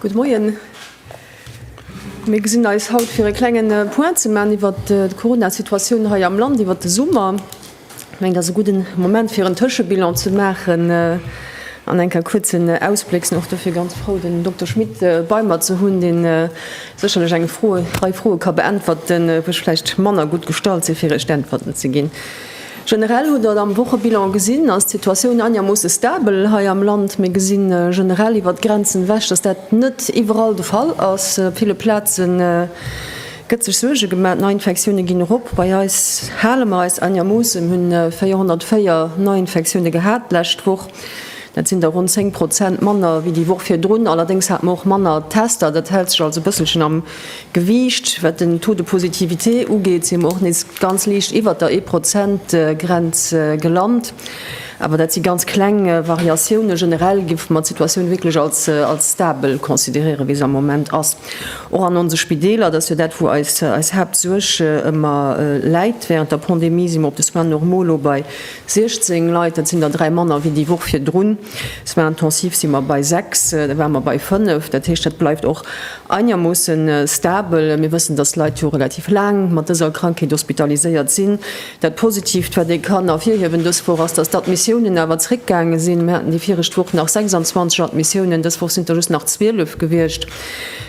Gutt Moien. Mir gesinn eis haut fir e klengen äh, Point ze man iwwer äh, d'Corona-Situatioun hei am Land iwwer de Summer. Mengt ass e gudden Moment fir en Tëschebilan ze maachen an eng Kéier kuerz en Ausbléck. Sinn och dofir ganz frou den Dokter Schmit bei mer ze hunn, deen sécherlech eng Froe, Rei Froe ka beäntwerten, wou ech vläicht manner gutt gestallt sinn fir Iech d'Äntwerten ze ginn. Generell hutt Der et am Wochebilan gesinn, ass d'Situatioun einermoosse stabel hei am Land. Mir gesi generell iwwert d'Grenzen ewech, dass dat net iwwerall de Fall ass. Op ville Plazen Gëtt sech Suerge gemaach, d'Neiinfektioune ginn erop. Bei eis hale mer eis anegermoossen, hunn 404 Neiinfektioune gehat d'lescht Woch. Dat sinn der ronn 10 Prozent manner wéi déi Woch virdrun. Allerdéngs hate mer och manner Tester. Dat hält sech also e bësselchen am Gewiicht. Wat den Taux de positivité ugeet, si mer och nees ganz liicht iwwert der Ee-Prozent-Grenz gelant. Awer dat si ganz kleng Variatiounen. Generell géife mer d'Situatioun wierklech als stabel consideréieren, wéi se am Moment ass. Och an onse Spideeler, dat ass jo dat, wou eis Haaptsuerg ëmmer läit, Während der Pandemie si mer op de Soins normaux elo bei 16 Leit, dat sinn der dräi manner wéi déi Woch virdrun. Soins intensifs si mer bei sechs, da ware mer bei fënnef. Dat heescht, dat bleift och einermoosse stabel. Mir wëssen, dass Leit jo relativ laang mat dëser Krankheet hospitaliséiert sinn. Dat Positiivt, wat ee kann ervirhiewen dës Woch, ass, dass d'Admissiounen awer zréckgaange sinn. Mir haten déi viregt Woch nach 26 Admissiounen, dës Woch sinn et der just nach 12 gewiescht.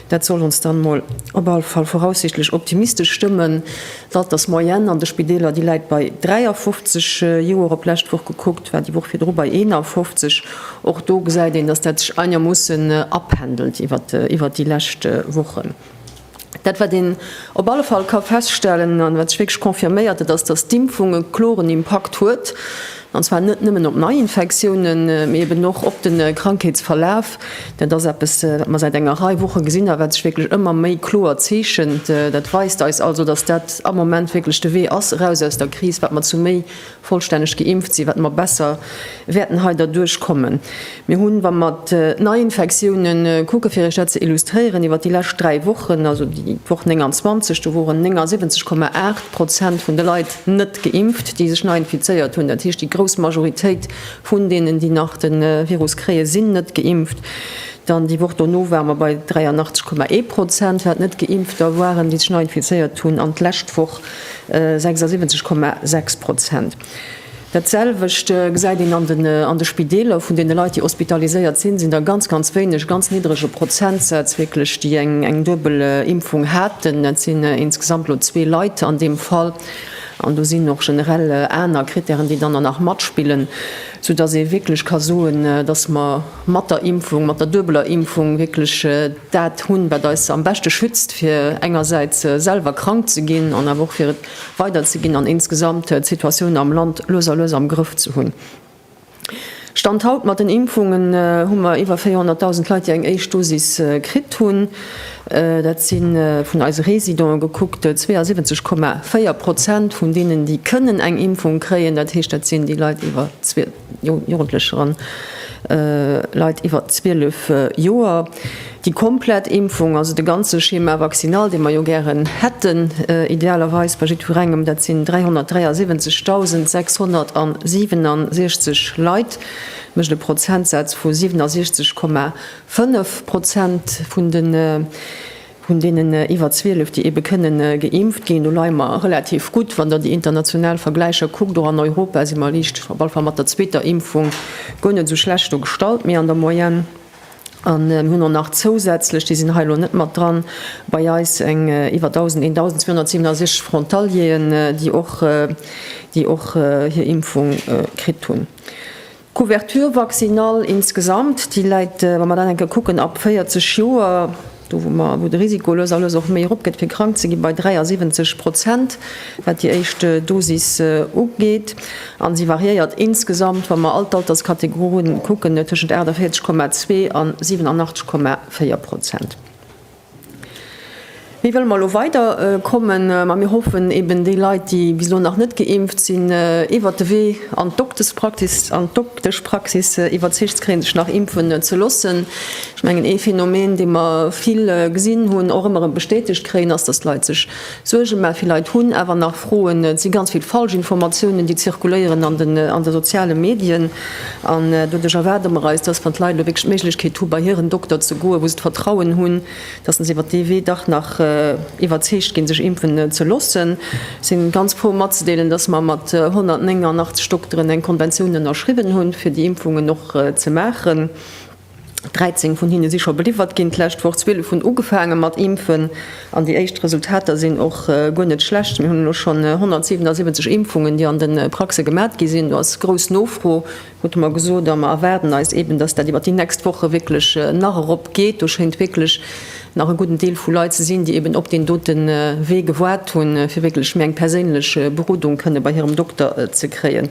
Dat soll ons dann emol op alle Fall voraussichtlech optimistesch stëmmen. D'Altersmoyenne an de Spideeler, déi läit bei 53 Joer, op d'lescht Woch gekuckt war déi Woch virdru bei 51. Och do gesäit een, dass dat sech einermoossen apendelt iwwert déi lescht Wochen. Dat, wat een op alle Fall ka feststellen an wat sech wierklech confirméiert, dat ass, dass d'Impfung e kloren Impakt huet, an zwar net nëmmen op Neiinfektiounen, mee eben och op de Krankheetsverlaf. Dat ass eppes, wat mer säit enger Rei Woche gesinn a wat sech wierklech ëmmer méi kloer zeechent. Dat weist eis also, dass dat am Moment wierklech de Wee ass eraus aus der Kris, wat mer zu méi Vollstänneg geimpft si, wat mer besser wäerten hei derduerch kommen. Mir hunn, wa mer d'Neiinfektioune kucken, fir Iech dat ze illustréieren, iwwer déi lescht dräi Wochen, also déi Woch 29, do woren 79,8 Prozent vun de Leit net geimpft, déi sech nei infizéiert hunn. Dat heescht, déi grouss Majoritéit vun deenen, déi nach de Virus kréien, sinn net geimpft. Dann déi Woch dono ware mer bei 83,1 Prozent, wat Net-Geimpfter waren, déi sech nei infizéiert hunn. An d'lescht Woch, 76,6 Prozent. Dat selwecht gesäit een an de Spideeler. Vun deene Leit, déi hospitaliséiert sinn, sinn der ganz, ganz wéineg, ganz niddrege Prozentsätz wierklech, déi eng duebel Impfung haten. Dat sinn insgesamt elo zwee Leit an deem Fall. An do sinn och generell aner Krittären, déi dann der nach matspillen, soudass ee wierklech ka soen, dass mer mat der Impfung, mat der duebeler Impfung wierklech, Dat hunn, wat eis am beschte schützt fir engersäits selwer krank ze ginn an awer och fir et weider ze ginn an insgesamt d'Situatioun am Land lues a lues am Grëff ze hunn. Stand haut mat den Impfungen hu mer iwwer 400.000 Leit, déi eng éischt Dosis kritt hunn. Dat si vun eise Residente gekuckt 72,4 Prozent vun deenen, déi kënnen eng Impfung kréien. Dat heescht, dat sinn déi Leit iwwer Jugendlecher an Leit iwwer 12 Joer. Déi komplett Impfung, also de ganze Schéma vaccinal, dee mer jo gären hätten, idealerweis bei jiddwerengem, dat sinn 373.667 Leit, mécht e Prozentsaz vu 67,5 Prozent vun de Vun deenen iwwer 12, déi eebe kënne geimpft ginn, do leie mer relativ gutt. Wann Der déi international Vergläicher kuckt, och an Europa si mer liicht, op alle Fall mat der zweeter Impfung, guer net esou schlecht do gestallt, méi an der Moyenne. A mir hunn och nach zousätzlech, déi sinn hei elo net mat dran, bei eis eng iwwer 1.000, 1.267 Frontalieren, déi och, déi och hir Impfung kritt hunn. D'Couverture vaccinale insgesamt, déi läit, wa mer dat eng Kéier kucken, ab 40 Joer, do wou mer, wou de Risiko lues a lues och méi eropgeet fir krank ze ginn, bei 73 Prozent, wat déi éischt Dosis ugeet. A se variéiert insgesamt, wa mer all d'Alterskategorien kucken, tëschent 48,2 an 87,4 Prozent. Wéi wëlle mer elo weider kommen? Ma mir hoffen eben, déi Leit, déi bis elo nach net geimpft sinn, iwwert de Wee an d'Dokteschpraxis an d'Dokteschpraxis iwwerzeegt ze kréien, sech nach impfen ze loossen. Ech mengen, ee Phänomen, dee mer vill gesinn hunn, och ëmmer erëm bestätegt kréien, ass, dass d'Leit sech Suergen, mä vill Leit hunn awer nach Froen. Et si ganz vill Falschinformatiounen, déi zirkuléieren an de soziale Medien. An doduerch erwaarde mer eis, dass, wann d'Leit elo wierklech d'Méiglechkeet hu bei hiren Dokter ze goen, wou se d'Vertrauen hunn, dass se iwwert dee Wee dach nach iwwerzeegt ginn, sech impfen ze loossen. Ech si ganz frou matzedeelen, dass mer mat 189 Dokteren eng Konventioun ënnerschriwwen hunn, fir déi Impfungen och ze maachen. 13 vun hinne si scho beliwwert ginn d'lescht Woch, 12 hunn ugefaange mat impfen an déi éischt Resultater sinn och guer net schlecht. Mir hunn elo schonn 177 Impfungen, déi an de Praxe gemat gi sinn. Do ass grouss Nofro, krute mer gesot, a mer erwaarden eis eeben, datt dat iwwert déi nächst Woche wierklech nach erop geet. Do schéint wierklech nach e gudden Deel vu Leit ze sinn, déi eeben op deen dote Wee gewaart hunn, fir wierklech méi eng perséinlech Berodung kënne bei hirem Dokter ze kréien.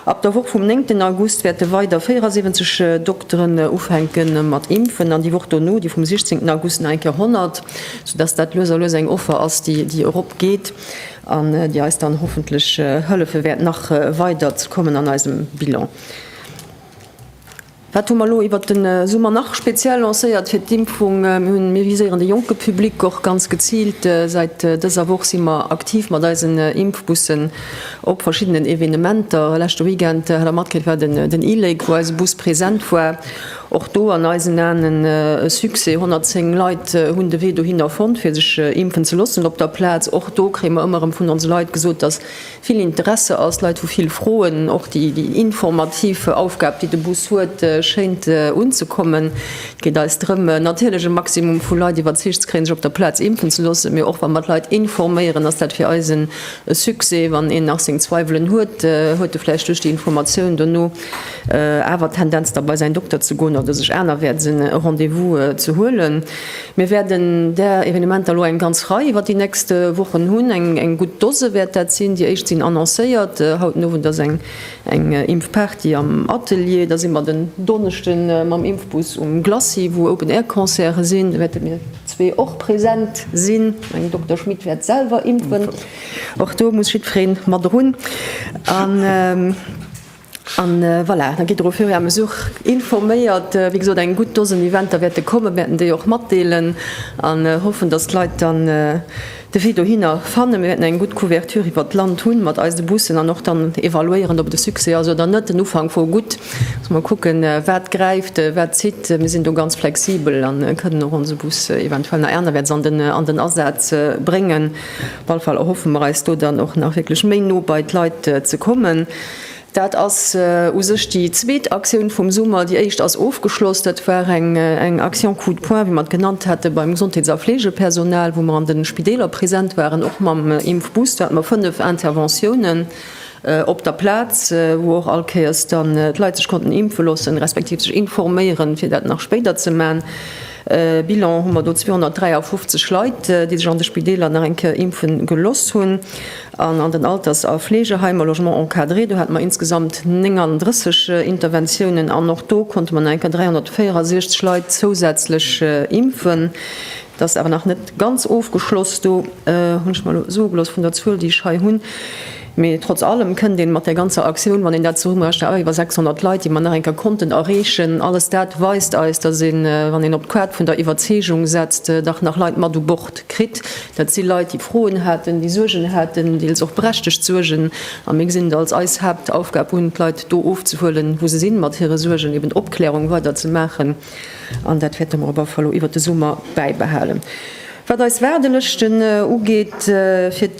Ab der Woch vum néngten August wäerte weider 74 Dokteren ufänke mat impfen an déi Woch dono, déi vum siechzéngten August, nach eng Kéier 100, soudass dat lues a lues eng Offer ass, déi eropgeet an déi eis dann hoffentlech hëllefe wäert nach weider ze kommen an eisem Bilan. Wat hu mer elo iwwert de Summer nach speziell lancéiert fir d'Impfung? Mir hunn, mir viséieren de jonke Public och ganz geziilt. Säit dëser Woch si mer aktiv mat eisen Impfbussen op verschiddenen Evenementer. Leschte Weekend hat der matkritt, war den e-Lake, wou eise Bus present war. Och do an eisen Aen e Succès, 110 Leit hunn de Wee dohinner fonnt fir sech impfen ze loossen op der Plaz. Och do kréie mer ëmmer erëm vun onse Leit gesot, dass. vill Interesse ass, Leit hu vill Froen, och déi informativ Aufgab déi de Bus huet schéint unzekommen. Et geet eis drëm natierlech e Maximum vu Leit iwwerzeegt ze kréien sech op der Plaz impfen ze loossen, mee och wa mer d'Leit informéieren ass dat fir eis e Succès. Wann een nach seng Zweiwelen huet, huet e vläicht duerch déi Informatioun dono awer d'Tendenz da bei säin Dokter ze goen oder sech anerwäerts e Rendez-vous ze huelen. Mir wäerten där Evenementer elo eng ganz Rei iwwer déi nächst Wochen hunn. Eng gutt Dose wäert dat sinn. Déi éischt sinn annoncéiert. Haut den Owend ass eng Impfparty am Atelier. Da si mer den Donneschde mam Impfbus um Glacis, wou Open-Air-Concerte sinn. Do wäerte mir zwee och present sinn. Den Dokter Schmit wäert selwer impfen. Och do muss jiddweree mat erun. An voilà, dann gitt Der au fur et à mesure informéiert. Wéi gesot, eng gutt Dosen Eventer wäerte kommen. Mir wäerten déi och matdeelen an hoffen, dass d'Leit dann de Wee dohinner fannen. Mir wäerten eng gutt Couverture iwwert d'Land hunn mat eise Bussen an och dann evaluéieren, ob et e Succès ass oder net. Den Ufank wor gutt. Muss mer kucken, wat gräift, wat zitt. Mir sinn do ganz flexibel a kënnen och onse Bus, eventuell nach aner wäerts, an den Asaz bréngen. Op alle Fall erhoffe mer eis do dann och nach wierklech méi no bei d'Leit ze kommen. Dat ass u sech déi zweet Aktioun vum Summer. Déi éischt ass ofgeschloss. Dat war eng Action Coup de poing, wéi mer et genannt hate, beim Gesondheets a Fleegepersonal, wou mer an de Spideeler present waren, och mam Impfbooster. Hat mer fënnef Interventiounen op der Plaz, wou och all Kéiers dann d'Leit sech konnten impfe loossen, respektiv sech informéieren, fir dat nach spéider ze man. Bilan hu mer do 253 Leit, déi sech an de Spideeler nach eng Kéier impfe gelooss hunn. An an den Alters a Fleegeheimer, Logements encadrés, do hate mer insgesamt 39 Interventiounen an och do konnte mer nach eng Kéier 364 Leit zousätzlech impfen. Et ass awer nach net ganz ofgeschloss, do hunn ech mer elo soe gelooss vun der Zuel, déi ech hei hunn. Mee trotz allem kënnt een mat där ganzer Aktioun, wann een dat zesummerechent, awer iwwer 600 Leit, déi mer nach eng Kéier konnten erreechen. Alles dat weist eis, dass een, wann een op d'Quad vun der Iwwerzeegung setzt, dach nach Leit mat u Bord kritt. Dat si Leit, déi Froen haten, déi Suergen haten, deels och berechtegt Suergen. A mir gesinn et als eis Haaptaufgab un, d'Leit do ofzehuelen, wou se sinn, mat hire Suergen, eben d'Opklärung weiderzemaachen. An dat wäerte mer op alle Fall elo iwwer de Summer bäibehalen. Wat eis Waardelëschten ugeet, fir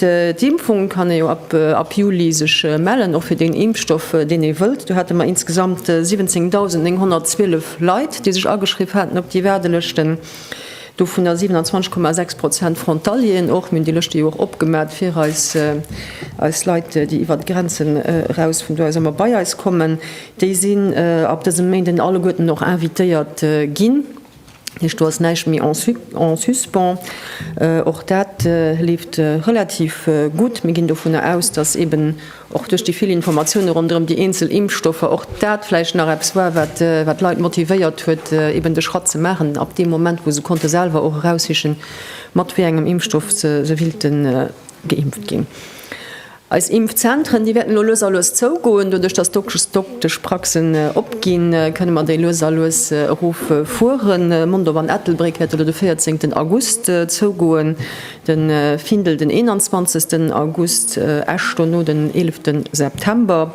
d'Impfung kann ee jo ab Juli sech mellen, och fir deen Impfstoff, deen ee wëllt. Do hate mer insgesamt 17.912 Leit, déi sech ageschriww haten op déi Waardelëschten, dovunner 27,6 Prozent Frontalieren och. Mir hunn déi Lëschte jo och opgemat fir eis Leit, déi iwwert d'Grenzen eraus vun do aus ëmmer bei eis kommen. Déi sinn ab dësem Méinden alleguerten och invitéiert ginn. heescht, do ass näischt méi en suspens. Och dat leeft relativ gutt. Mir ginn dovunner aus, datt eeben och duerch déi vill Informatiounen ronderëm déi eenzel Impfstoffer och dat vläicht nach eppes war, wat d'Leit motivéiert huet, eeben de Schratt ze maachen, ab deem Moment, wou se konnte selwer och eraussichen, mat wéi engem Impfstoff se wéilten geimpft ginn. Eis Impfzentren, déi wäerten elo lues a lues zougoen. Doduerch, dass d'Dokteschpraxen opginn, kënne mer déi lues a lues erof fueren. Mondorf an Ettelbréck wäerte lo de véierzéngten August zougoen, de Findel den eenanzwanzegsten August, Esch dono den eelefte September.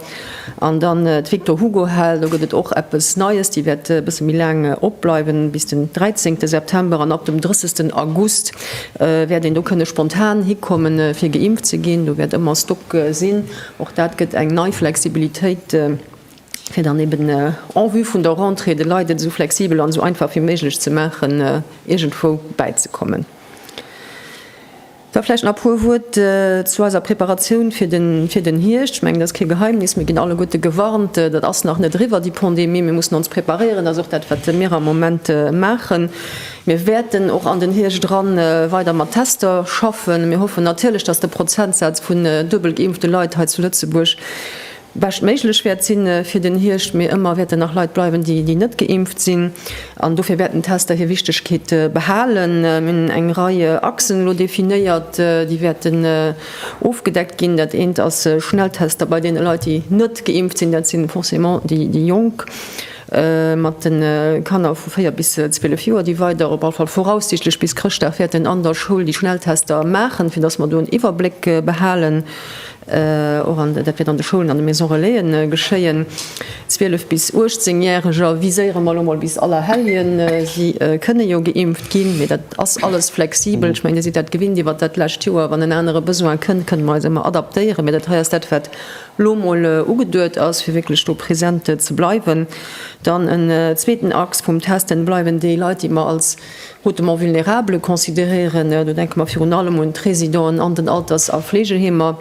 An dann d'Victor Hugo Hal, do gëtt et och eppes Neies, déi wäert e bësse méi laang opbleiwen, bis den 13 September. An ab dem 30 August wäert een do kënne spontan hikommen, fir geimpft ze ginn. Do wäert ëmmer Stock sinn. Och dat gëtt eng nei Flexibilitéit, fir dann eben en vue vun der Rentrée de Leit et esou flexibel an esou einfach wéi méiglech ze maachen, iergendwou bäizekommen. Da vläicht nach e puer Wuert zu eiser Preparatioun fir den Hierscht. Ech mengen, et ass kee Geheimnis, mir ginn alleguerte gewarnt, et ass nach net eriwwer, déi Pandemie. Mir mussen ons preparéieren, dat ass och dat, wat mir am Moment maachen. Mir wäerten och an den Hierscht era weider mat Tester schaffen. Mir hoffen natierlech, dass de Prozentsaz vun duebel geimpfte Leit hei zu Lëtzebuerg bescht méiglech wäert sinn fir den Hierscht, mee ëmmer wäerten nach Leit bleiwen, déi net geimpft sinn an dofir wäerten d'Tester hir Wichtegkeet behalen. Mir hunn eng Rei Achsen elo definéiert, déi wäerten ofgedeckt ginn. Dat eent ass Schnelltester bei deene Leit, déi net geimpft sinn, dat si forcément déi Jonk mat de Kanner vu 4 bis 12 Joer. Déi weider, op all Fall voraussichtlech bis Chrëschtdag, wäerten an der Schoul déi Schnelltester maachen, fir datt mer do en Iwwerbléck behalen. Dat wäert an de Schoulen, an de Maison Relaisen geschéien. 12 bis 18 Järeger viséiere mer elo mol bis Allerhelljen. Si kënne jo geimpft ginn, mee dat ass alles flexibel. Ech mengen, Dir sidd dat gewinnt iwwert dat lescht Joer. Wann en anere Besoin kënnt, kënne mer eis ëmmer adaptéieren. Mee dat hei ass dat, wat elo mol ugeduet ass, fir wierklech do präsent ze bleiwen. Dann en zweeten Axe vum Testen, Bleiwen déi Leit, déi mer als Hautement vulnérable consideréieren, do denke mer virun allem un d'Résidenten an den Alters a Fleegeheemer,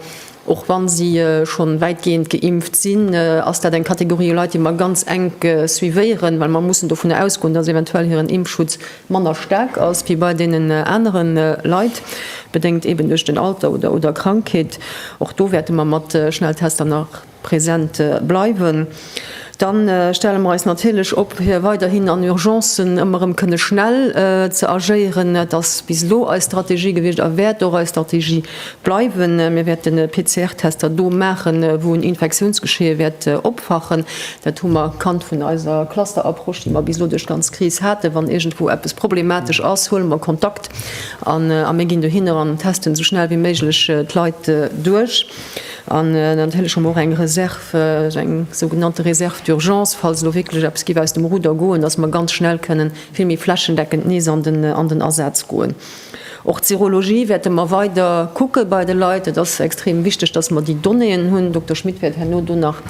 och wa si scho wäitgehend geimpft sinn, ass dat eng Kategorie u Leit, déi mer ganz enk suivéieren, well mer mussen dovun ausgoen, dass eventuell hiren Impfschutz manner staark ass wéi bei deenen anere Leit, bedéngt eeben duerch den Alter oder Krankheet. Och do wäerte mer mat Schnelltester nach. präsent bleiwen, dann stelle mer eis natierlech op fir weiderhin an Urgencen ëmmer erëm kënne schnell ze agéieren. Dat ass bis elo eis Strategie gewiescht a wäert och eis Strategie bleiwen. Mir wäerten PCR-Tester do maachen, wou en Infektiounsgeschee wäert opfachen. Dat hu mer kannt vun eiser Cluster-Approche, déi mer bis elo duerch d'ganz Kris haten. Wann iergendwou eppes problematesch ass, huele mer Kontakt an a mir ginn dohinner an testen esou schnell wéi méiglech d'Leit duerch. An natierlech hu mer och eng Reserve, esou eng sougenannte Reserve d'urgence, falls elo wierklech eppes géif aus dem Ruder goen, dass mer ganz schnell kënnen vill méi flächendeckend nees an den Asaz goen. Och d'Serologie wäerte mer weider kucke bei de Leit. Et ass extrem wichteg, dass mer déi Donnéeën hunn. Den Dokter Schmit wäert herno do nach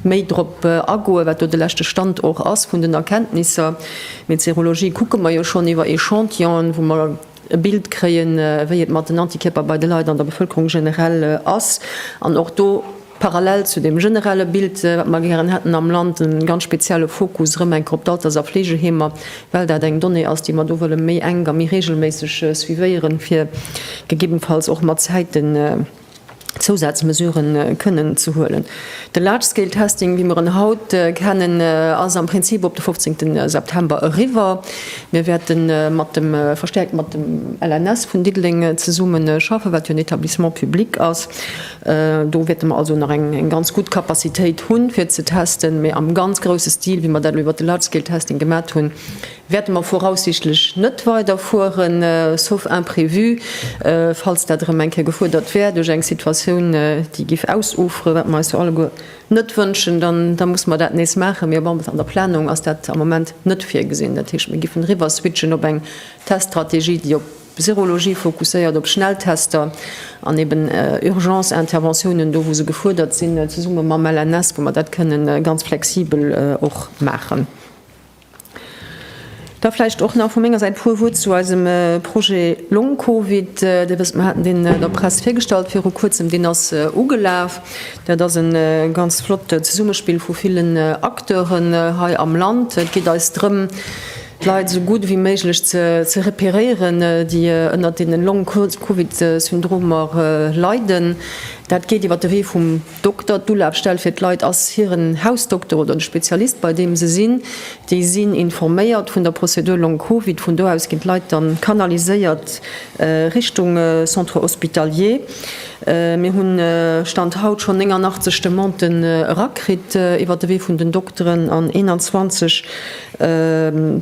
méi drop agoen, wat do de leschte Stand och ass vun den Erkenntnisser. Mee d'Serologie kucke mer jo schonn iwwer Echantillonen, wou mer e Bild kréien, wéi et mat den Antikierper bei de Leit an der Bevëlkerung generell ass, an och do parallel zu deem generelle Bild, wat mer gären hätten am Land, e ganz spezielle Fokus erëm eng Kéier op d'Alters a Fleegeheemer, well dat eng Donnée ass, déi mer do wëlle méi enk a méi reegelméisseg suivéieren, fir gegebenfalls och mat Zäiten, Zousazmesure kënnen ze huelen. De Large Scale Testing, wéi mer en haut kennen, ass am Prinzip op de 15 September eriwwer. Mir wäerte mat dem, verstäerkt mat dem LNS vun Diddeleng zesummen schaffen, wat jo en Etablissement public ass. Do wäerte mer also nach eng ganz gutt Capacitéit hunn, fir ze testen. Mee am ganz grouse Stil, wéi mer dat elo iwwert de Large Scale Testing gemat hunn, Wäerte mer voraussichtlech net weiderfueren, sauf imprévu, falls dat erëm eng Kéier gefuerdert wär duerch eng Situatioun, déi géif ausuferen, wat mer eis jo alleguer net wënschen, da musse mer dat nees maachen. Mee op an der Planung ass dat am Moment net virgesinn. Dat heescht, mir géifen eriwwerswitchen op eng Teststrategie, déi op Serologie fokusséiert, op Schnelltester an eeben Urgence-Interventiounen do, wou se gefuerdert sinn, zesumme mam LNS, wou mer dat kënnen ganz flexibel och maachen. Da vläicht och nach vu menger Säit e puer Wuert zu eisem Projet Long Covid. Dir wësst, mir haten deen der Press virgestallt viru Kuerzem. Deen ass ugelaf. Dat ass e ganz flott Zesummespill vu villen Acteuren hei am Land. Et geet eis drëm, d'Leit esou gutt ewéi méiglech ze reperéieren, déi ënnert deene Long-Covid-Syndromer leiden. Dat geet iwwer de Wee vum. Dokter, d'Ulafstell fir d'Leit ass hiren Hausdokter oder de Spezialist, bei deem se sinn. Déi sinn informéiert vun der Prozedur Long-Covid. Vun do aus ginn d'Leit dann kanaliséiert Richtung Centre hospitalier. Mir hunn, Stand haut, schonn 89 Demanden erakritt iwwert de Wee vun den Dokteren an 21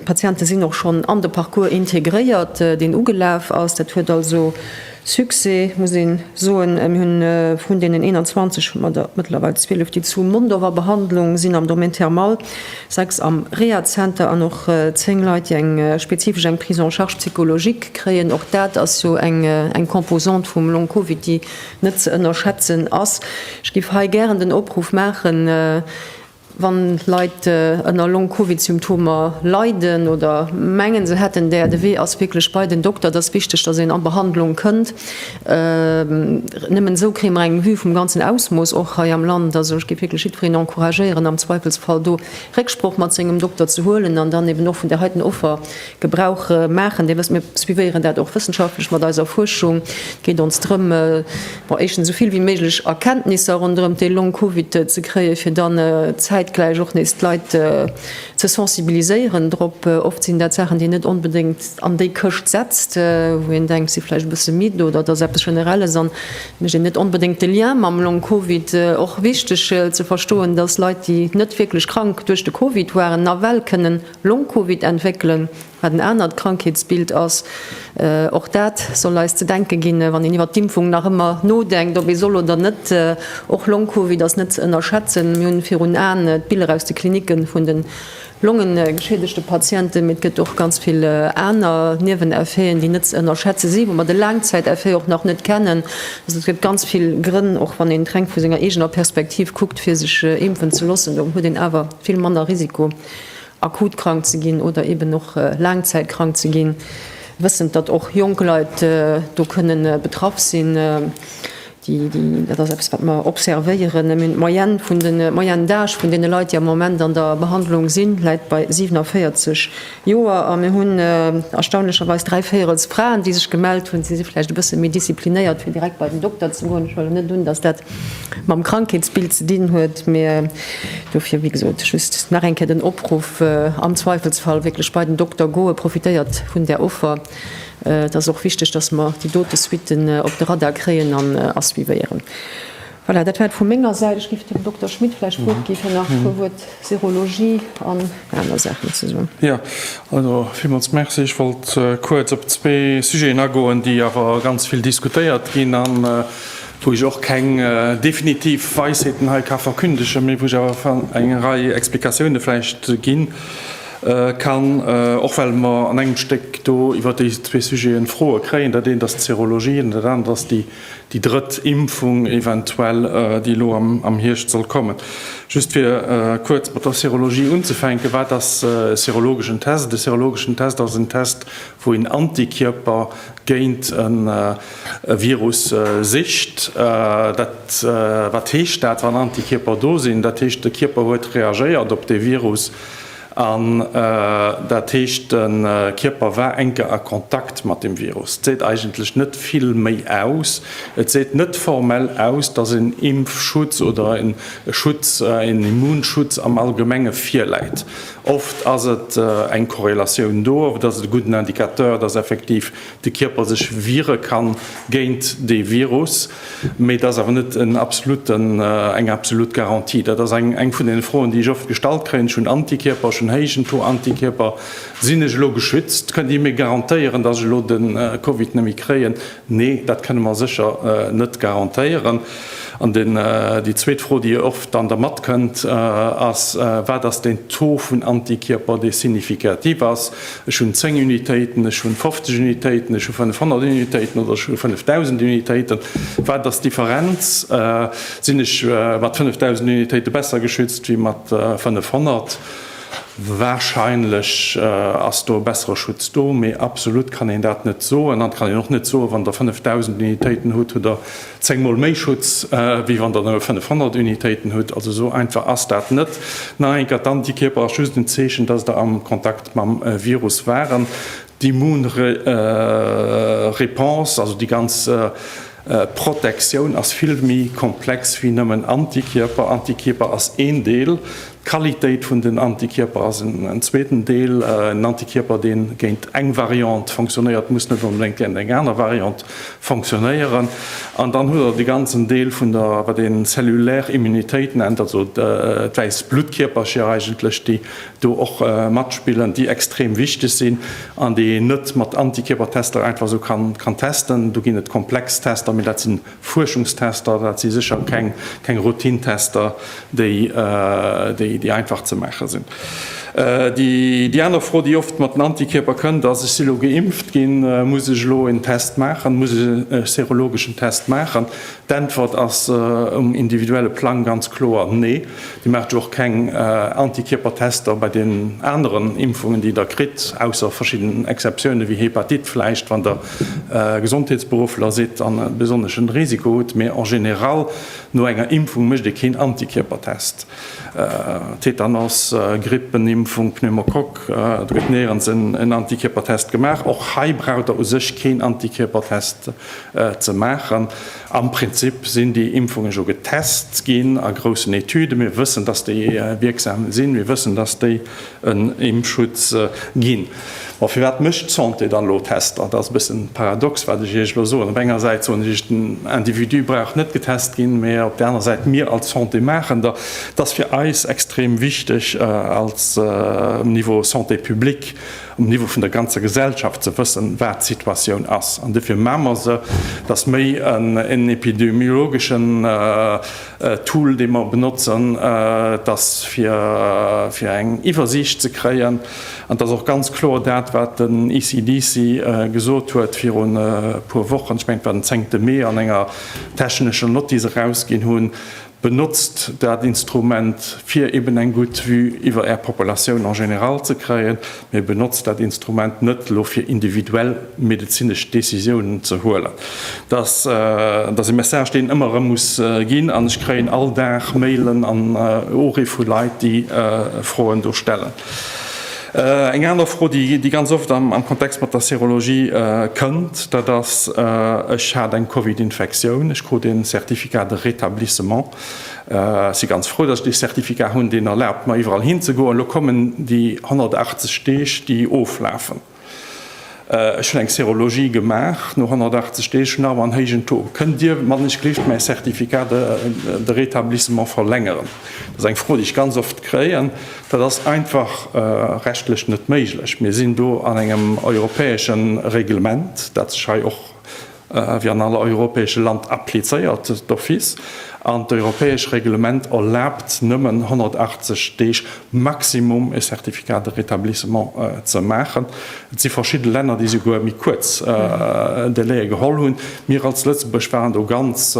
Patiente sinn och schonn an de Parcours integréiert, deen ugelaf ass. Dat huet also. Succès, muss een soen. Mir hunn vrun deenen 21 hu mer der mëttlerweil 12, déi zu Mondorf a Behandlung sinn am Domaine thermal, 6 am Rehazenter an och 10 Leit, déi eng spezifesch eng Prise en charge psychologique kréien. Och dat ass jo eng Composante vum Long Covid, déi net ze ënnerschätzen ass. Ech géif hei gären den Opruff maachen, Wann Leit ënner Long-Covid-Symptomer leiden oder mengen se hätten där, de Wee ass wierklech bei den Dokter. Et ass wichteg, dass een a Behandlung kënnt. Nëmmen esou kréie mer eng Vue vum ganzen Ausmooss och hei am Land. Also ech géif wierklech jiddwereen encouragéieren, am Zweifelsfall do Récksproch mat sengem Dokter ze huelen an dann eeben och vun där heiten Offer Gebrauch maachen. Dir wësst, mir suivéieren dat och wëssenschaftlech mat eiser Fuerschung. Et geet ons drëm, bon, éischtens esou vill wéi méiglech Erkenntnisser ronderëm de Long Covid ze kréien, fir dann zäitgläich och nees d'Leit ze sensibiliséieren drop. Oft sinn dat Saachen, déi een net onbedéngt an déi Këscht setzt, wou een denkt, si vläicht e bësse midd oder et ass eppes Generelles a mécht een net onbedéngt de Lien mam Long Covid. Och wichteg ze verstoen, dass Leit, déi net wierklech krank duerch de Covid waren, nawell kënnen Long-Covid entwéckelen, wat en anert Krankheetsbild ass. Och dat soll eis ze denke ginn, wann een iwwert d'Impfung nach ëmmer nodenkt, ob ee soll oder net. Och Long-Covid ass net ze ënnerschätzen. Mir hunn virun Aen d'Biller aus de Klinicke vun de longegeschiedegte Patienten, mee et gëtt och ganz vill aner Nieweneffeten, déi net ze ënnerschätze si, wou mer de Laangzäiteffet och nach net kennen. Also et gëtt ganz vill Grënn, och wann een et reng vu senger eegener Perspektiv kuckt, fir sech impfen ze loossen. Do huet een awer vill manner Risiko. akut krank ze ginn oder eben och laangzäit krank ze ginn, wëssend datt och jonk Leit do kënne betraff sinn. Dat ass eppes wat mer observéieren. Mir hunn d'Moyenne vun de, d'Moyenne d'âge vun deene Leit, déi am Moment an der Behandlung sinn, läit bei 47 Joer a mir hunn erstaunlecherweis dräi Véierels Fraen, déi sech gemellt hunn. Si si vläicht e bësse méi disziplinéiert fir direkt bei den Dokter ze goen. Ech huelen net un, datt dat mam Krankheetsbild ze dinn huet, mä dofir, wéi gesot, just nach eng Kéier den Opruff, am Zweifelsfall wierklech bei den Dokter goen, profitéiert vun där Offer, et ass och wichteg, dass mer déi dote Suitten op de Radar kréien an a suivéieren. Voilà, dat war et vu menger Säit. Ech géif dem Dokter Schmit vläicht d'Wuert gi fir nach e puer Wuert Serologie an aner Saachen ze soen. Jo, also villmools Merci. Ech wollt kuerz op zwee Sujeten agoen, déi awer ganz vill diskutéiert ginn, wou ech och keng definitiv Weisheeten hei ka verkündegen, mee wou ech awer eng Rei Explikatioune vläicht gi kann, och well mer an engem Stéck do iwwer déi zwee Sujete Froe kréien. Dat eent ass d'Serologie an dat anert ass déi drëtt Impfung eventuell, déi elo am Hierscht soll kommen. Just fir kuerz mat der Serologie unzefänken, Wat ass e serologeschen Test? E serologeschen Test ass en Test, wou een Antikierper géint e Virus sicht. Wat heescht dat, wann Antikierper do sinn? Dat heescht, de Kierper huet reagéiert op dee Virus an dat heescht, de Kierper war eng Kéier a Kontakt mat deem Virus. Et seet eigentlech net vill méi aus. Et seet net formell aus, dass en Impfschutz oder e Schutz, en Immunschutz am Allgemenge virläit. Oft ass et eng Korrelatioun do, oft ass et e gudden Indicateur, dass effektiv de Kierper sech wiere kann géint dee Virus, mee et ass awer net en absoluten, eng absolut Garantie. Dat ass eng, eng vun deene Froen, déi ech oft gestallt kréien, Ech hunn Antikierper, ech hunn héijen Taux Antikierper, sinn ech elo geschützt? Kënnt Dir mir garantéieren, dass ech elo de Covid net méi kréien? Nee, dat kënne mer sécher net garantéieren. An déi zweet Fro, déi jo oft dann dermat kënnt, ass, Wat ass deen Taux vun Antikierper, dee significatif ass? Ech hunn 10 Unitéiten, ech hunn 50 Unitéiten, ech hu 500 Unitéiten oder ech hu 5.000 Unitéiten. Wat ass d'Differenz? Sinn ech mat 5.000 Unitéite besser geschützt wéi mat 500? Wahrscheinlech ass do e bessere Schutz do, mee absolut kann een dat net soen. An et kann een och net soen, wann Der 5.000 Unitéiten hutt, hutt Der zéng Mol méi Schutz, wéi wann Der nëmme 500 Unitéiten hutt. Also esou einfach ass dat net. Nach eng Kéier, D'Antikierper ass just en Zeechen, dass Der am Kontakt mam Virus waren. D'Immunreponse, also déi ganz Protektioun ass vill méi komplex wéi nëmmen Antikierper. Antikierper ass een Deel. D'Qualitéit vun den Antikierper ass en zweeten Deel. En Antikierper, dee géint eng Variant fonctionnéiert, muss net onbedéngt géint eng aner Variant fonctionnéieren. An dann hutt Der de ganzen Deel vun der, wat een cellulaire Immunitéit nennt, also d'wäiss Bluttkierpercher eigentlech, déi do och matspillen, déi extrem wichteg sinn an déi een net mat Antikierpertester einfach esou kann testen. Do ginn et komplex Tester, mee dat sinn Fuerschungstester, dat si sécher keng Routine-Tester, déi einfach ze maache sinn. Déi aner Fro, déi oft mat den Antikierper kënnt, ass, Ech si lo geimpft ginn, muss ech elo en Test maachen, muss ech e serologeschen Test maachen? D'Äntwert ass um individuelle Plang ganz kloer Nee. Dir maacht jo och keng Antikierper-Tester bei deenen aneren Impfungen, déi Der kritt, ausser verschidden Exceptiounen, wéi Hepatit vläicht, wann Der Gesondheetsberuffler seet an e besonneschen Risiko hutt, mee en général no enger Impfung mécht ee keen Antikierpertest. Tetanos, Grippenimpfung, Pneumokock, et gëtt néierens en Antikierpertest gemaach. Och hei braucht der u sech keen Antikierpertest ze maachen. Am Prinzip sinn déi Impfungen jo getest ginn a groussen Etüden. Mir wëssen, dass déi wierksam sinn, mir wëssen, dass déi en Impfschutz ginn. Ma firwat mécht d'Santé dann elo Tester? Dat ass e bëssen paradox, wat ech Iech elo soen. Op enger Säit soen ech Iech, den Individu brauch net getest ginn, mä op där aner Säit, mir als Santé maachen der. Et ass fir eis extrem wichteg, als um Niveau Santé publique, um Niveau vun der ganzer Gesellschaft ze wëssen, wat d'Situatioun ass. An dofir maache mer se, dass méi en epidemiologeschen, Tool dee mer benotzen, et ass fir eng Iwwersiicht ze kréien an et ass och ganz kloer dat wat den ECDC gesot huet virun e puer Wochen, ech mengen et war den zéngte Mee, an enger technescher Nott déi se erausginn hunn, benotzt dat Instrument fir eben eng gutt Vue iwwer Är Populatioun en général ze kréien. Mee benotzt dat Instrument net elo fir individuell medezinesch Décisiounen ze huelen. Dat ass e Message deen ëmmer erëm muss ginn an ech kréien all Dag Mailen an Urie vu Leit déi Froen do stellen. Eng aner Fro déi ganz oft am Kontext mat der Serologie kënnt, dat ass, Ech hat eng Covid-Infektioun, ech krut ee Certificat de rétablissement. Ech si ganz frou, dass ech dee Certificat hunn, deen erlaabt mer iwwerall hinzegoen. Elo kommen déi 180 Deeg, déi oflafen. Ech hunn eng Serologie gemaach, no 180 Deeg hunn ech awer en héijen Taux. Kënnt Dir mannechgelift mäi Certificat de de rétablissement verlängeren? Dat ass eng Fro, déi ech ganz oft kréien. Dat ass einfach rechtlech net méiglech. Mir sinn do an engem europäesche Reglement, dat sech hei och, wéi an all europäesche Land, applizéiert d'office an d'europäesch Reglement erlaabt nëmmen 180 Deeg maximum e Certificat de rétablissement ze maachen. Et si verschidde Länner, déi souguer méi kuerz Délaië geholl hunn. Mir als Lëtzebuerg waren do ganz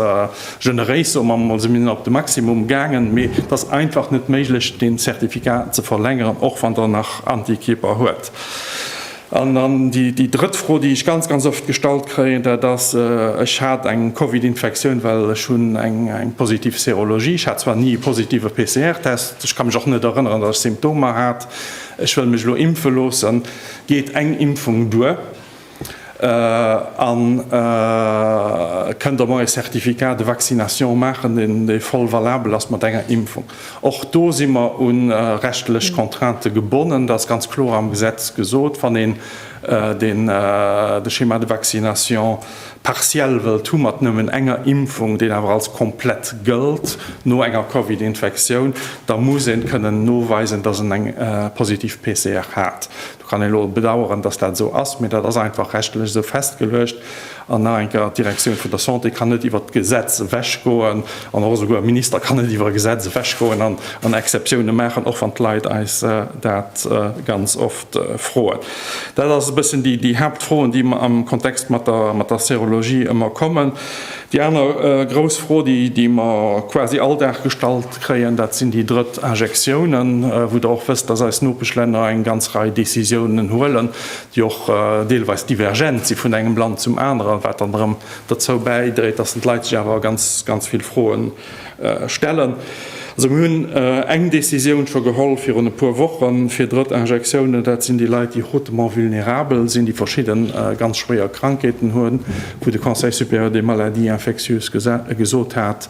generéis, soe mer emol, si mir net op de Maximum gaangen. Mee et ass einfach net méiglech, dee Certificat ze verlängeren, och wann Der nach Antikierper huet. An dann déi drëtt Fro, déi ech ganz, ganz oft gestallt kréien, dat ass, Ech hat eng Covid-Infektioun, well ech hunn eng positiv Serologie. Ech hat zwar ni e positive PCR-Test, ech ka mech och net erënneren, datt ech Symptomer hat. Ech wëll mech elo impfe loossen. Geet eng Impfung duer? A kënnt Der mer e Certificat de vaccination maachen, dee voll valabel ass mat enger Impfung? Och do si mer u rechtlech Contraintë gebonnen. Dat ass ganz kloer am Gesetz gesot. Wann een deen de Schéma de vaccination partiel wëllt hu mat nëmmen enger Impfung, deen awer als komplett gëllt no enger Covid-Infektioun, da muss en kënnen noweisen, dass en eng positiv PCR hat. Do kann een elo bedauern, dass dat esou ass, mee dat ass einfach rechtlech esou festgeluecht. An nach eng Kéier, D'Direktioun vun der Santé kann net iwwert d'Gesetz ewechgoen an och esouguer e Minister kann net iwwer e Gesetz ewechgoen an Exceptiounen maachen, och wann d'Leit eis dat ganz oft froen. Dat ass e bëssen déi Haaptfroen, déi am Kontext mat der Serologie ëmmer kommen. Déi aner grouss Fro, déi mer quasi all Dag gestallt kréien, dat sinn déi drëtt Injektiounen, wou Der och wësst, dass eis Nopeschlänner eng ganz Rei Décisiounen huelen. déi och deelweis divergent si vun engem Land zum aneren, wat dann erëm derzou bäidréit, dass d'Leit sech awer ganz, ganz vill Froe stellen. Also mir hunn eng Décisioun scho geholl virun e puer Wochen, fir Drëttinjektiounen, dat sinn déi Leit, déi hautement vulnérabel sinn, déi verschidde ganz schwéier Krankheeten hunn, wou de Conseil supérieur des maladies infectieuses gesot hat,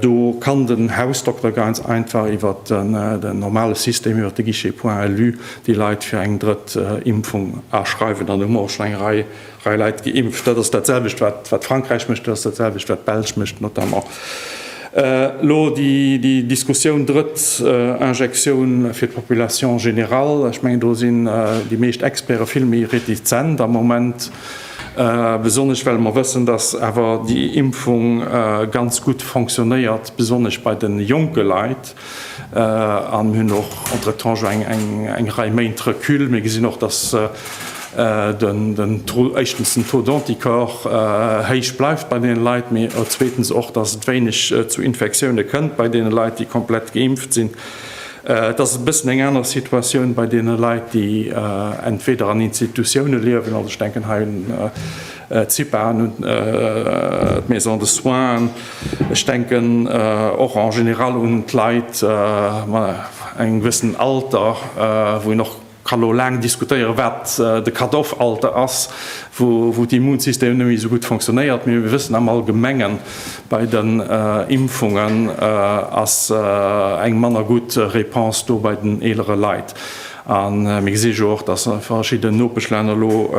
Do kann den Hausdokter ganz einfach iwwer den normale System, iwwer de Guichet Point Elu, déi Leit fir eng drëtt Impfung aschreiwen. An do hu mer och schonn eng Rei Leit geimpft. Dat ass dat selwecht, wat Frankräich mécht, dat ass dat selwecht, wat d'Belsch mécht notamment. Elo déi Diskussioun drëtt Injektioun fir d'Population générale, ech mengen do sinn déi meescht Experte vill méi retizent am Moment. Besonnesch well mer wëssen, dass awer déi Impfung ganz gutt fonctionnéiert, besonnesch bei de jonke Leit. An mir hunn och entretemps scho eng Rei Méint Recul. Mir gesinn och, dass den Taux, éischtens den Taux d'anticorps héich bleift bei deene Leit, mee zweetens och, dass et wéineg zu Infektioune kënnt bei deene Leit, déi komplett geimpft sinn. Et ass e bëssen eng aner Situatioun bei deene Leit, déi entweder an Institutioune liewen, also ech denken hei un d'Cipaen, un d'Maisons de soins, ech denken och en général un d'Leit mat engem gewëssenen Alter, wou een och, Ka lo laang diskutéieren, wat de Cut-off-Alter ass, wou d'Immunsystem net méi esou gutt fonctionnéiert. Mee mir wëssen am Allgemengen, bei den Impfungen ass eng manner gutt Réponse do bei den eelere Leit. A mir gesi jo och, dass verschidden Nopeschlänner lo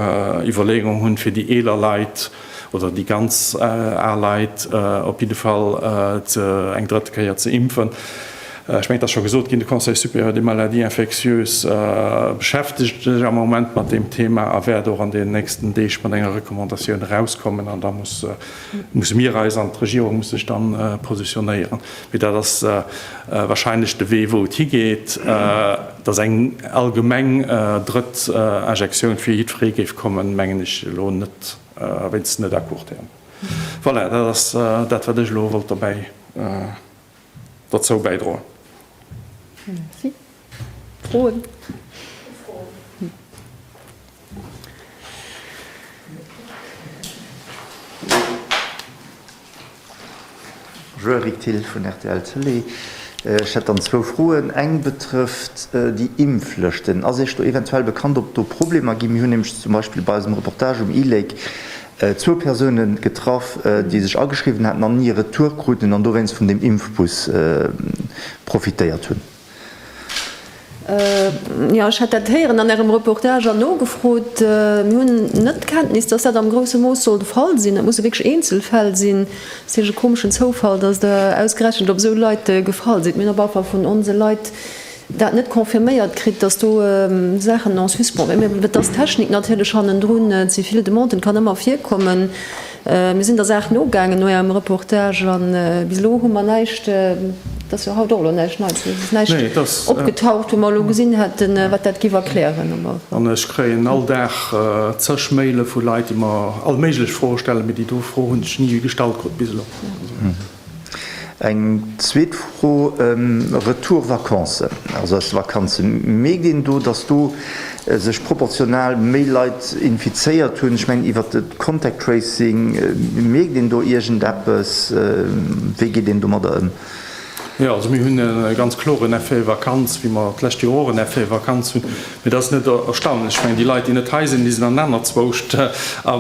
Iwwerleeungen hunn, fir déi eeler Leit, oder déi ganz al Leit op jidde Fall eng drëtt Kéier ze impfen. Ech mengen, et ass scho gesot ginn, de Conseil supérieur des maladies infectieuses beschäftegt sech am Moment mat deem Thema a wäert och an deenen nächsten Deeg mat enger Recommandatioun erauskommen. An da musse mir eis an d'Regierung muss sech dann positionéieren. Mee dat ass wahrscheinlech de Wee wou et higeet, datt eng allgemeng drëtt Injektioun fir jiddweree géif kommen, mengen ech elo net. A wéinst net à court terme. Voilà, dat ass dat, wat ech elo wollt dobäi, derzou bäidroen. Merci. Froen? Joeri Thill vun rtl Tëlee, Ech hätt dann zwou Froen. Eng betrëfft déi Impflëschten. Ass Iech do eventuell bekannt, ob do Problemer ginn? Mir hunn nämlech zum Beispill bei eisem Reportage um e-Lake zwou Persoune getraff, déi sech ageschriwwen haten an ni e Retour kruten an dowéinst vun deem Impfbus profitéiert hunn. Jo, ech hat dat héieren an Ärem Reportage an nogefrot. Mir hunn net d'Kenntnis, dass dat am grousse Mooss soll de Fall sinn. Dat musse wierklech Eenzelfäll sinn. Et ass hich e komeschen Zoufall, dass Der ausgerechent op esou Leit gefall sidd. Mir hunn op alle Fall vun onse Leit dat net confirméiert kritt, dass do Saachen en suspens wieren. Et ass d'Technik natierlech hannendrun, ze vill Demanden. Et kann ëmmer virkommen. Mir sinn der Saach nogaangen no Ärem Reportage a bis elo hu mer näischt, et ass jo haut och elo näischt Neits, et ass näischt opgetaucht, wou mer elo gesinn hätten, wat dat giff erklären. An ech kréien all Dag zeg Maile vu Leit, déi mer all méiglech Froe stellen, mee déi do Fro hunn ech ni gestallt krut bis elo. Eng zweet Fro, Retour Vacances. Also aus de Vakanze méi ginn, do datt do sech proportional méi Leit infizéiert hunn. Ech mengen iwwert de Contact Tracing, mierkt een do iergendeppes? Wéi geet een domadder ëm? Jo, also mir hunn e ganz kloren Effet Vakanz, wéi mer d'lescht Joer och en Effet Vakanz hunn. Et ass net erstaunlech. Ech mengen, déi Leit, déi net hei sinn, déi sinn an anerzwousch. A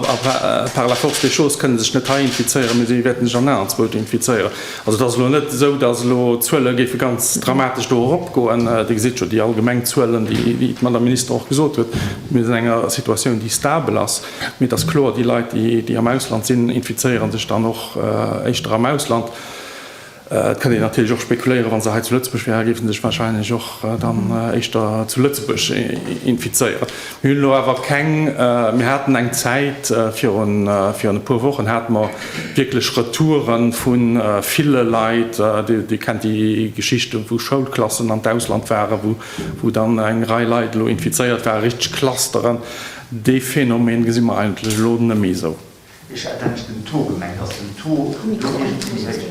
par la force des choses kënnen sech net hei infizéieren, mee si wäerten sech an anerzwousch infizéieren. Also, et ass elo net esou, datt elo d'Zuele géife ganz dramatesch do eropgoen. Dir gesitt jo déi allgemeng Zuelen, déi d'Madame Minister och gesot huet. Mir sinn an enger Situatioun, déi stabel ass. Mee et ass kloer, déi Leit, déi am Ausland sinn, infizéiere sech dann och éischter am Ausland. Et kënnt een natierlech och spekuléieren, wa se hei zu Lëtzebuerg wären, géife se sech wahrscheinlech och dann éischter zu Lëtzebuerg infizéieren. Mir hunn elo awer keng, mir haten eng Zäit, virun e puer Wochen hate mer wierklech Retoure vu ville Leit, Dir kennt déi Geschichte wou Schoulklassen an d'Ausland waren, wou dann eng Rei Leit elo infizéiert waren, richteg Clusteren. Dee Phänomen gesi mer eigentlech elo net méi esou. Ech hat eigentlech den Taux gemengt, ass den Taux do iergendwéi méi héich?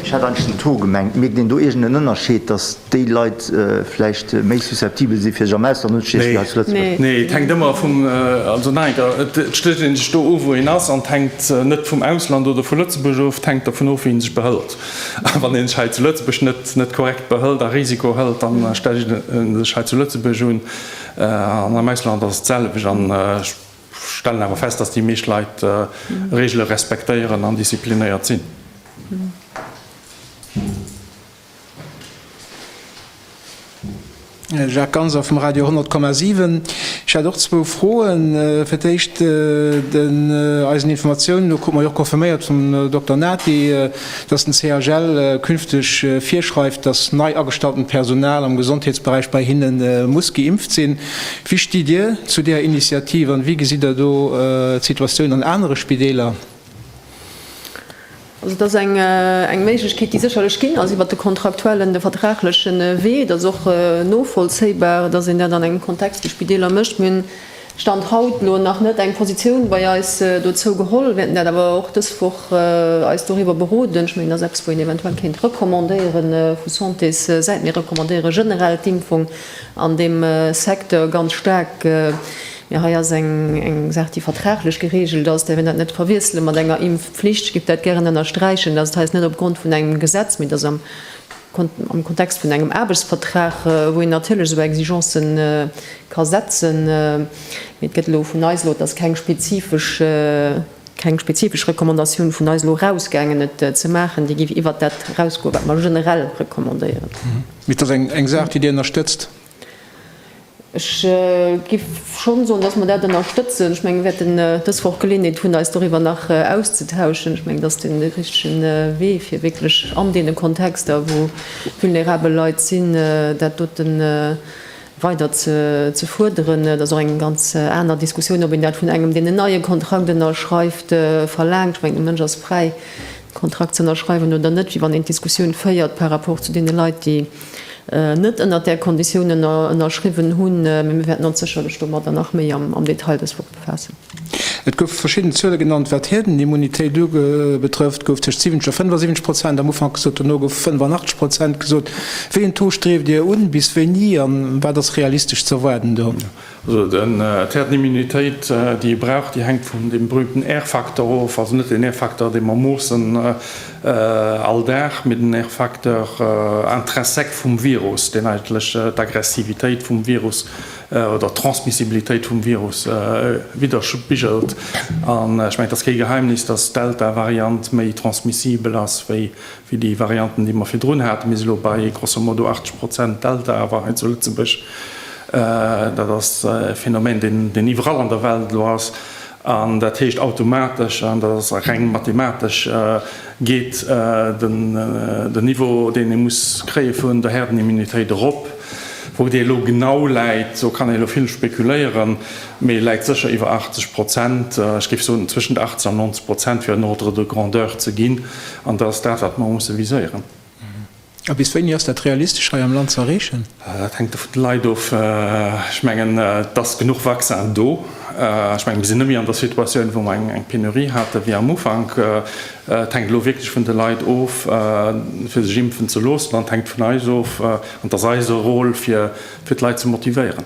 Ech hat eigentlech den Taux gemengt. Mierkt een do iergendeen Ënnerscheed, datt déi Leit vläicht méi susceptibel si fir sech am Ausland unzestiechen wéi hei zu Lëtzebuerg? Nee, et hänkt ëmmer vum, also nach eng Kéier, et stécht ee sech do of, wou een ass, an et hänkt net vum Ausland oder vu Lëtzebuerg of, et hänkt dovun of, wéi ee sech behëlt. A wann ee sech hei zu Lëtzebuerg net korrekt behëlt a Risiko hëlt, da stellt ee sech hei zu Lëtzebuerg un, An am Ausland ass et d'selwecht an ech stellen awer fest, dass déi meescht Leit Regele respektéieren an disziplinéiert sinn. Jacques Ganser vum Radio 100 Komma 7. Ech hätt och zwou Froen. Fir d'éischt, eisen Informatiounen no krute mer jo och confirméiert vum Dokter Nati, dass den CHL künfteg virschreift, dass nei agestalltent Personal am Gesondheetsberäich bei hinne muss geimpft sinn. Wéi stitt Dir zu deeër Initiativ an wéi gesitt Der do d'Situatioun an anere Spideeler? Also et ass eng Méiglechkeet, déi sécherlech ginn ass iwwert de kontraktuellen, de vertragleche Wee. Et ass och novollzéibar, dass een dat an engem Kontext, wéi Spideeler, mécht. Stand haut lo nach net eng Positioun bei eis dozou geholl. Wäerten dat awer och dës Woch eis doriwwer beroden. Ech mengen, dat ass eppes, wou een eventuell kéint recommandéiere vu Santéssäit. Mir recommandéiere generell d'Impfung an deem Secteur ganz staark. Mee hei ass eng Saach, déi vertraglech gereegelt ass. Däerf een dat net verwiessele mat enger Impfpflicht. Ech géif dat gären ënnersträichen, dass et hei net opgrond vun engem Gesetz, mee dass am. am Kontext vun engem Aarbechtsvertrag, wou een natierlech esou Exigencë ka setzen, mee et gëtt elo vun eis, elo ass keng spezifesch, keng spezifesch Recommandatioun vun eis elo erausgaangen, et ze maachen. Déi géif iwwert dat erausgoen, wat mer generell recommandéieren. Mee et ass eng Saach, déi Dir ënnerstëtzt? Ech giff schonn soen, dass mer dat ënnerstëtzen. Ech mengen, mir wäerten dës Woch Geleeënheet hunn, eis doriwwer nach auszetauschen. Ech mengen, dass deen dee richtegen Wee fir wierklech an deene Kontexter, wou vulnerabel Leit sinn, dat dote weider ze fuerderen. Et ass och eng ganz aner Diskussioun, ob een dat vun engem, deen en neie Kontrakt ënnerschreift, verlaangt. Ech mengen, de Mënsch ass fräi. Kontrakt ze ënnerschreiwen oder net, wéi wann een d'Diskussioun féiert par rapport zu deene Leit, déi net ënnert där Kondition ënnerschriwwen hunn. Mä mir wäerten ons sécherlech domadder nach méi am Detail dës Woch befaassen. Et goufe verschidden Zuele genannt, wat d'Hierdenimmunitéit betrëfft, gouf tëscht 70 a 75 Prozent am Ufank gesot, dono goufe 85 Prozent gesot. Wéi een Taux strieft Dir un? Bis wéini? A wat ass realistesch ze erwaarden do? Also den et häert d'Immunitéit déi ee brauch, déi hänkt vun deem berühmten Airfaktor of, also net den Airfaktor dee mer moossen all Dag, mee den Airfaktor intrinsèque vum Virus, deen eigentlech d'Aggressivitéit vum Virus oder d'Transmissibilitéit vum Virus widderspigelt. An ech mengen et ass kee Geheimnis, dass d'Delta-Variant méi transmissibel ass wéi wéi déi Varianten, déi mer virdrun haten. Mir si elo bei grosso modo 80 Prozent Delta awer hei zu Lëtzebuerg. Dat ass e Phänomen, deen iwwerall an der Welt elo ass. An dat heescht automatesch, an dat ass reng mathematesch, geet den Niveau, deen ee muss kréie vun der Herdenimmunitéit erop. Wou dee elo genau läit, do kann ee elo vill spekuléieren, mee e läit sécher iwwer 80 Prozent, ech géif soen tëschent 80 an 90 Prozent, fir en Ordre de grandeur ze ginn. An dat ass dat, wat mer musse viséieren. A bis wéini ass dat realistesch hei am Land ze erreechen? Dat hänkt e vun de Leit of. Ech mengen, et ass genuch Vaccin do. Ech mengen, mir sinn net méi an der Situatioun, wou mer eng Penurie hate wéi am Ufank. Et hänkt elo wierklech vun de Leit of, fir sech impfen ze loossen. An et hänkt vun eis of, an et ass eise Rôle, fir d'Leit ze motivéieren.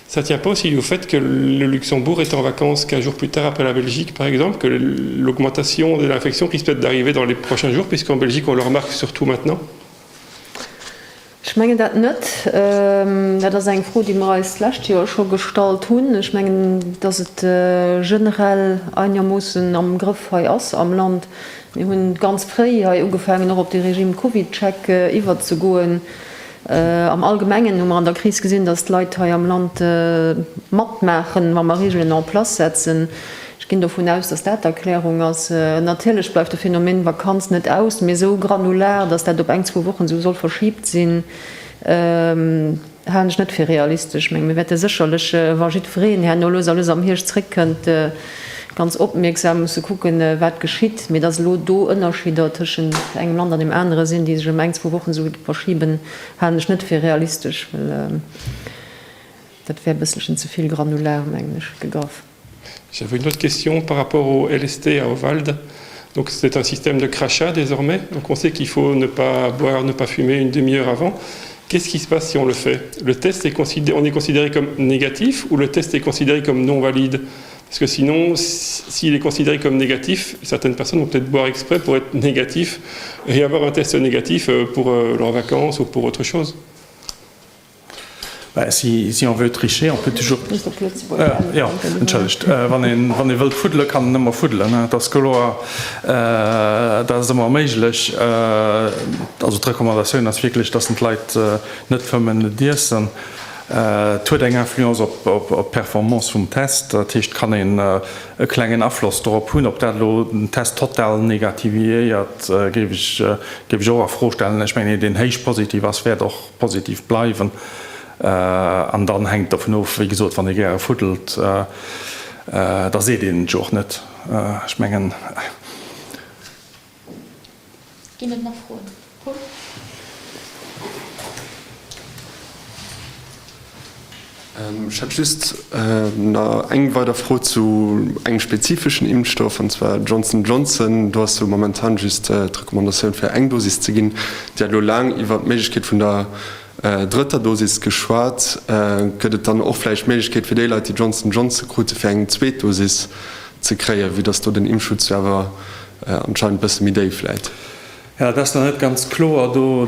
Ça tient pas aussi au fait que le Luxembourg est en vacances qu'un jour plus tard après la Belgique, par exemple, que l'augmentation de l'infection risque peut-être d'arriver dans les prochains jours, puisqu'en Belgique on le remarque surtout maintenant. Ech mengen dat net. Dat ass eng Fro, déi mer eis d'lescht Joer scho gestallt hunn. Ech mengen, dass et generell einermoossen am Grëff hei ass am Land. Mir hu ganz fréi hei ugefaangen, och op de Régime Covidcheck iwwerzegoen. Am Allgemengen hu mer an der Kris gesinn, dass d'Leit hei am Land matmaachen, wa mer Regeln en place setzen. Ech ginn dovun aus, dass dat d'Erklärung ass. Natierlech bleift de Phänomen Vakanz net aus, mee esou granular, dass dat op eng, zwou Wochen esou soll verschibt sinn, halen ech net fir realistesch. Ech menge mir wäerte sécherlech, wa jiddwereen herno lues a lues am Hierscht zréckkënnt, ganz opmierksam musse kucken, wat geschitt, mee dass elo do Ënnerschidder tëschent engem Land an deem anere sinn, déi sech ëm eng, zwou Wochen esou verschiben, halen ech net fir realistesch, well dat wär e bësselchen ze vill granular, mengen ech, gegraff. J'avais une autre question par rapport au LST à Ovalde. Donc c'est un système de crachat désormais. Donc on sait qu'il faut ne pas boire, ne pas fumer une demi heure avant. Qu'est-ce qui se passe si on le fait? Le test est consid, on est considéré comme négatif ou le test est considéré comme non valide? Parce que sinon, s'il est considéré comme négatif, certaines personnes vont peut-être boire exprès pour être négatif et avoir un test négatif pour leurs vacances ou pour autre chose. Bah, si, si on veut tricher, on peut toujours. Muss op Lëtzebuergesch änneren. Jo, entschëllegt. Wann een, wann ee wëllt fuddelen, kann en ëmmer fuddelen. Dat ass kloer, dat ass ëmmer méiglech. Also d'Recommandatioun ass wierklech, dass en d'Leit net fëmmen, net iessen. Et huet eng Influence op d'Performance vum Test, dat heescht, et kann een e klengen Afloss dorop hunn. Ob dat elo den Test total negativiéiert, géif ech och a Fro stellen. Ech mengen, een, deen héich positiv ass, wäert och positiv bleiwen. An dann hänkt et dovun of, wéi gesot, wann ee gäre fuddelt, da seet een et jo och net. Ech mengen. Ginn et nach Froen? Pol? Ech hätt just eng weider Fro zu engem spezifeschen Impfstoff, an zwar Johnson Johnson. Do ass jo momentan just d'Recommandatioun fir eng Dosis ze ginn. Dir hat elo laang iwwert d'Méiglechkeet vun der drëtter Dosis geschwat. Gëtt et dann och vläicht d'Méiglechkeet fir déi Leit, déi Johnson Johnson krute fir eng zweet Dosis ze kréien, vue dass do den Impfschutz jo awer Anscheinend bësse méi déif vläit. Jo, dat ass nach net ganz kloer. Do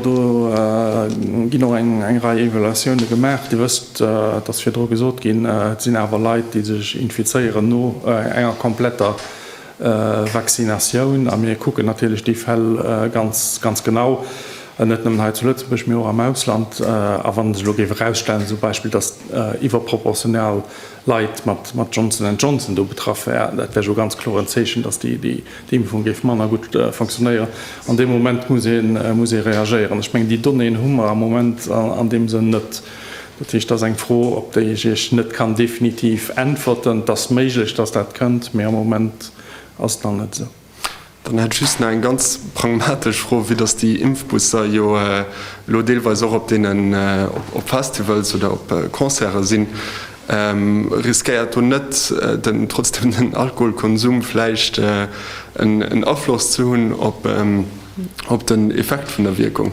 ginn och eng Rei Evaluatioune gemaach. Dir wësst, et ass virdru gesot ginn, et sinn awer Leit, déi sech infizéieren no enger kompletter Vaccinatioun. A mir kucken natierlech déi Fäll ganz, ganz genau, net nëmmen hei zu Lëtzebuerg, mee och am Ausland. A wann sech elo géif erausstellen zum Beispill, datt iwwerproportional Leit mat mat Johnson and Johnson do betraff wär. Dat wär jo ganz kloer en Zeechen, datt déi déi Impfung géif manner gutt fonctionnéieren. An deem Moment muss ee muss ee reagéieren. Ech mengen déi Donnéeën hu mer am Moment an deem Sënn net. Dat heescht, dat ass eng Fro, op déi ech Iech net kann definitiv äntwerten. Et ass méiglech, datt dat kënnt, mee am Moment ass et nach net esou. Dann hätt ech just nach eng ganz pragmatesch Fro, vue dass déi Impfbusser jo elo deelweis och op deenen, op Festivals oder op Concerte sinn, riskéiert do net den, trotzdem den Alkoholkonsum vläicht en Afloss ze hunn op den Effekt vun der Wierkung?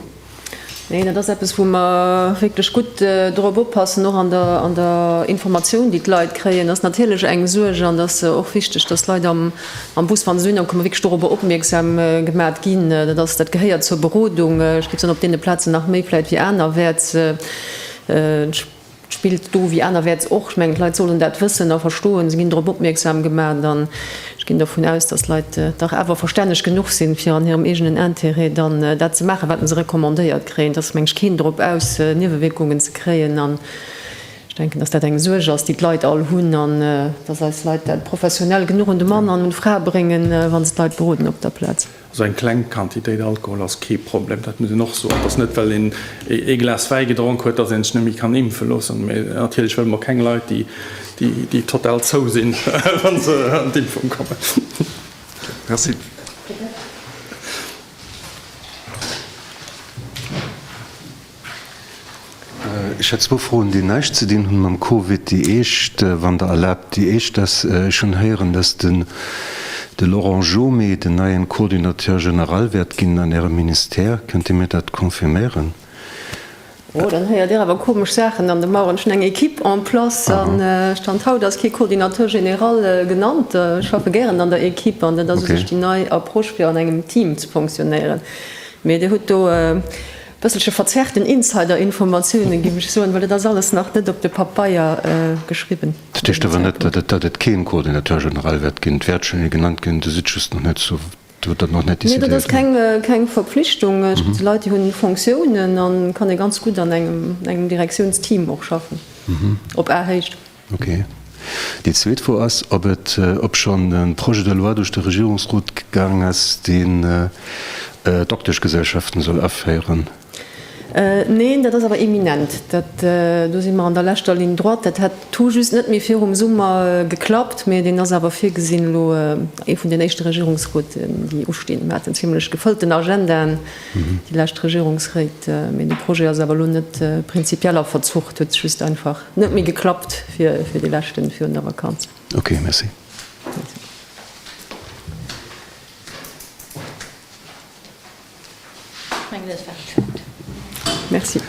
Nee, dat ass eppes, wou mer wierklech gutt dorop oppassen, och an der Informatioun, déi d'Leit kréien. Dat ass natierlech eng Suerg an et ass och wichteg, dass d'Leit am Bus, wa se dohinner kommen, wierklech dorobber opmierksam gemat ginn. Dat ass, dat gehéiert zur Berodung. Ech géif soen, op deene Plazen nach méi vläicht wéi anerwäerts. Spillt do wéi anerwäerts och. Ech mengen, d'Leit sollen dat wëssen a verstoen. Se ginn drop opmierksam gemaat an ech ginn dervun aus, dass d'Leit dach awer verstänneg genuch sinn, fir an hirem eegenen Intérêt dann dat ze maachen, wat mer se recommandéiert kréien. Et ass, meng ech, keen drop aus, Niewewierkungen ze kréien an ech denken, dass dat eng Suerg ass, déi d'Leit all hunn an dass eis Leit dat professionell genuch un de Mann an un d'Fra bréngen, wa se d'Leit beroden op der Plaz. Also eng kleng Quantitéit Alkohol ass kee Problem, dat muss een och soen. Et ass net, well een ee Glas Wäi gedronk huet, datt een sech net méi kann impfe loossen. Mee natierlech wëlle mer keng Leit, déi total zou sinn, wa se an d'Impfung kommen. Merci. Ech hätt zwou Froen, déi näischt ze dinn hunn mam Covid. Déi éischt, wann Der erlaabt, déi éischt ass, Ech hunn héieren, dass den, de Laurent Jomé den neien Coordinateur général wäert ginn an Ärem Ministère. Kënnt Dir mir dat confirméieren? Oh, dann héiert Dir awer komesch Saachen. An de Mauren, ech hunn eng Equipe en place an Stand haut ass kee Coordinateur général genannt. Ech schaffe gären an der Equipe an dat ass u sech déi nei Approche fir an engem Team ze fonctionnéieren. Mee Dir hutt do Bësselche verzerrt den Insider-Informatiounen, géif ech soen, well et ass alles nach net op de Pabeier geschriwwen. Dat heescht awer net, datt et keen Coordinateur général wäert ginn. D'Wäertchen, déi genannt ginn, do sidd just nach net, do hutt Der nach net decidéiert. Nee, dat ass keng Verpflichtung. Et gëtt Leit, déi hunn Fonctiounen, an et kann ee ganz gutt an engem Direktiounsteam och schaffen, op Ahéicht. Ok. Déi zweet Fro ass, ob et, obschonn e Projet de loi duerch de Regierungsrot gaang ass, deen Dokteschgesellschaften soll aféieren. Neen, dat ass awer imminent. Dat, do si mer an der leschter Ligne droite. Dat hätt tout just net méi virum Summer geklappt, mä deen ass awer virgesinn elo, ee vun den éischte Regierungsrouten, déi ustinn. Mer hat en zimlech gefëllten Agenda, déi lescht Regierungsréit, mä de Projet ass awer elo net prinzipiell a Verzuch. Dat huet sech just einfach Net méi geklappt fir fir dee leschten virun der Vakanz. Ok, merci. Merci.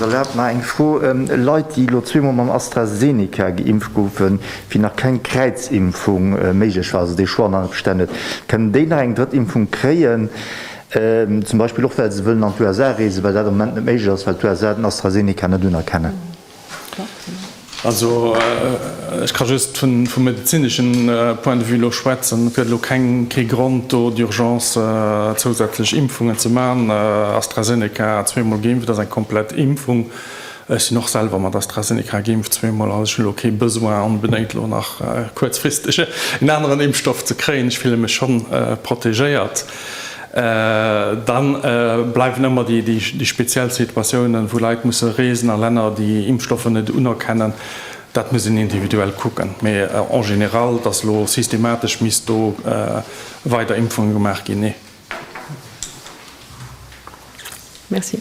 Erlaabt mer eng Fro. Leit, déi elo zweemol mam AstraZeneca geimpft goufen, wéi nach keng Kräizimpfung méiglech war, also dee Choix nach net bestoun huet, kënnen déi nach eng drëtt Impfung kréien? Zum Beispill och well se wëllen an d'USA reesen, well dat am Moment net méiglech ass, well d'USA den AstraZeneca net unerkennen. Also ech ka just vum medezinesche Point de vue elo schwätzen. Et gëtt elo keng, kee Grond do d'urgence zousätzlech Impfungen ze maachen. AstraZeneca zweemol geimpft ass eng komplett Impfung. Ech sinn och selwer mat AstraZeneca geimpft, zweemol, an ech hunn elo kee Besoin onbedéngt elo nach kuerzfristeg en aneren Impfstoff ze kréien. Ech fille mech schonn protegéiert. Dann bleiwen ëmmer déi speziell Situatiounen, wou Leit musse reesen a Länner, déi Impfstoffer net unerkennen. Dat muss een individuell kucken. Mee en général, dass elo systematesch misst do weider Impfungen gemaach ginn, nee. Merci.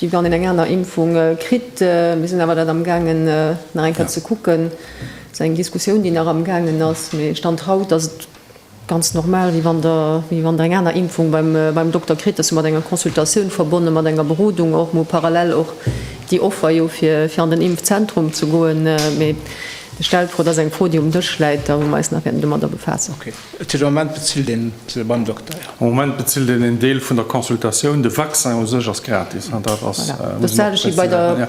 wéi wann een eng aner Impfung kritt. Mir sinn awer dat amgaangen nach eng Kéier ze kucken. Dat ass eng Diskussioun, déi nach amgaangen ass. Mee Stand haut ass et ganz normal, wéi wann Der, wéi wann Der eng aner Impfung beim Dokter kritt. Dat ass jo mat enger Consultatioun verbonne, mat enger Berodung och, emol parallel och déi Offer jo fir an den Impfzentrum ze goen. Mee de stellt d'Fro, dat ass eng Fro, déi um Dësch läit a wou mer eis nach wäerten domadder befaassen. Et sinn am Moment bezilt een se beim Dokter, jo. Am Moment bezilt een een Deel vun der Consultatioun. De Vaccin u sech ass gratis. Dat ass, muss een och prezisieren, ja.